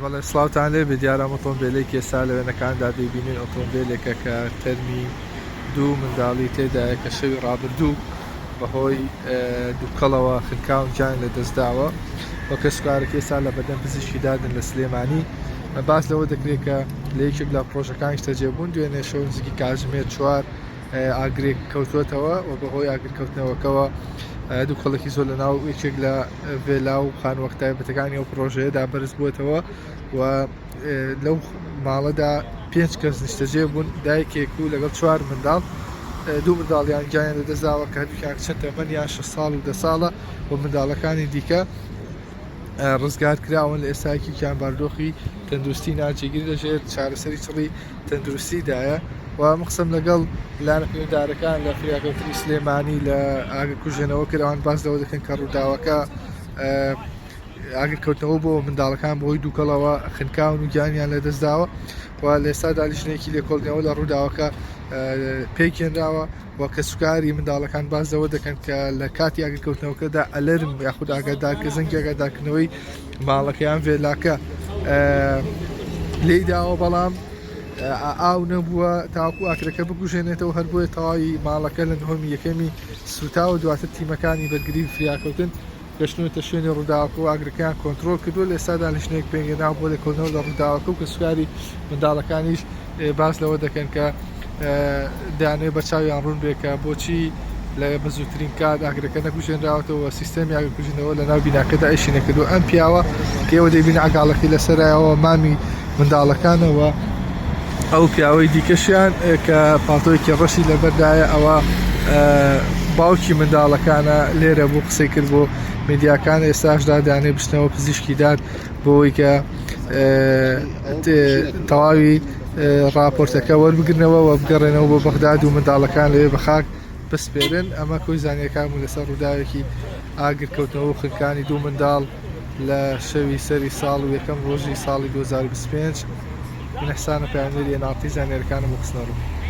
بەڵێ سڵاوتان لێبێ دیارە ئەم ئۆتۆمبێلەی ئێستا لە وێنەکاندا دەیبینن ئۆتۆمبێلێکە کە تەرمی دوو منداڵی تێدایە کە شەوی ڕابردوو بەهۆی دووکەڵەوە خنکاون گیان لە دەستداوە و کەسکارەکە ئێستا لە بەردەم پزیشکی دادن لە سلێمانی باس لەوە دەکرێت کە لە یەکێک لە پرۆژەکانیش تەجێبوون دوێنێ شەو نزیکی کاتژمێر چوار ئاگرێک کەوتووەتەوە و بەهۆی ئاگرکەوتنەوەکەوە دوو کەڵکی زۆر لە ناو یەکێک لە ڤێلا و خانوەخت تایبەتەکانی ئەو پرۆژەیەدا بەرز بووتەوە و لەو ماڵەدا پێنج کەس نیشتەجێ بوون دایکێک و لەگەڵ چوار منداڵ دوو منداڵیان گیان لە دەزاوە کە دوکیان چەند تەمەنیان شە ساڵ و دە ساڵە و منداڵەکانی دیکە ڕزگار کراون لە ئێستاکیان باردۆخی تەندروستی ناجێگیر لەژێر چارەسەری چڵی تەندروستیدایە و ئەم قسەم لەگەڵ لایەنە پەیوەندارەکان لە فریاکەوتنی سلێمانی لە ئاگر کوژێنەوە کرد ئەوان باس لەوە دەکەن کە ڕووداوەکە ئاگرکەوتنەوە بۆ منداڵەکان بۆی دووکەڵەوە خنکاون و گیانیان لەدەستداوە و لێسادا لیژنێکی لێکۆڵنەوە لە ڕووداوەکە پێکێنراوە و کە سوکاری منداڵەکان باز لەوە دەکەن کە لە کاتی ئاگرکەوتنەوەکەدا ئەلەرم یاخود ئاگادارکە زەنگی ئاگادارکردنەوەی ماڵەکە یان ڤێلاکە لێی داوە بەڵام ئاو نەبووە تاکو ئاکرەکە بگوژێنێتەوە هەر بۆیە تەواوی ماڵەکە لە نهۆمی یەکەمی سوتاوە دواتر تیمەکانی بەرگری فریاکەوتن گەشتنەوەتە شوێنی ڕووداوەکە و ئاگرەکەیان کۆنتترۆل کردو لە ئێستا دانیشتنێک پێگەدا بۆ لێکۆڵنەوە لە ڕووداوەکە و کەسوکاری منداڵەکانیش باس لەوە دەکەن کە دەیانەوێت بە چاویان ڕوون بێت کە بۆچی لە بەزووترین کات ئاگرەکە نەکوژێنراوەتەوە سیستەمی ئاگرکوژنەوە لە ناو بیناکەدا ئەیشی نەکردو ئەم پیاوە کێوە دەبین ئەگاڵەکەی لەسەرایەوە مامی منداڵەکانەوە ئەو پیاوەی دیکەشیان کە پاتۆیەکی ڕەشی لەبەردایە ئەوە باوکی منداڵەکانە لێرە بوو قسەی کرد بۆ میدیاکان ئێستاشدا دانێ بچنەوە پزیشکی داد بۆەوەی کە تەواوی ڕاپۆرتەکە وەربگرنەوە و بگەڕێنەوە بۆ بەغداد و منداڵەکان لەوێ بە خاک بسپێرن ئەمە کۆی زانیەکان و لەسەر ڕووداوێکی ئاگرکەوتنەوە و خنکانی دوو منداڵ لە شەوی سەری ساڵ و یەکەم ڕۆژی ساڵی 2025 من حسانە پامێری ناڵتی زانیارەکانم بۆ خستنەڕوو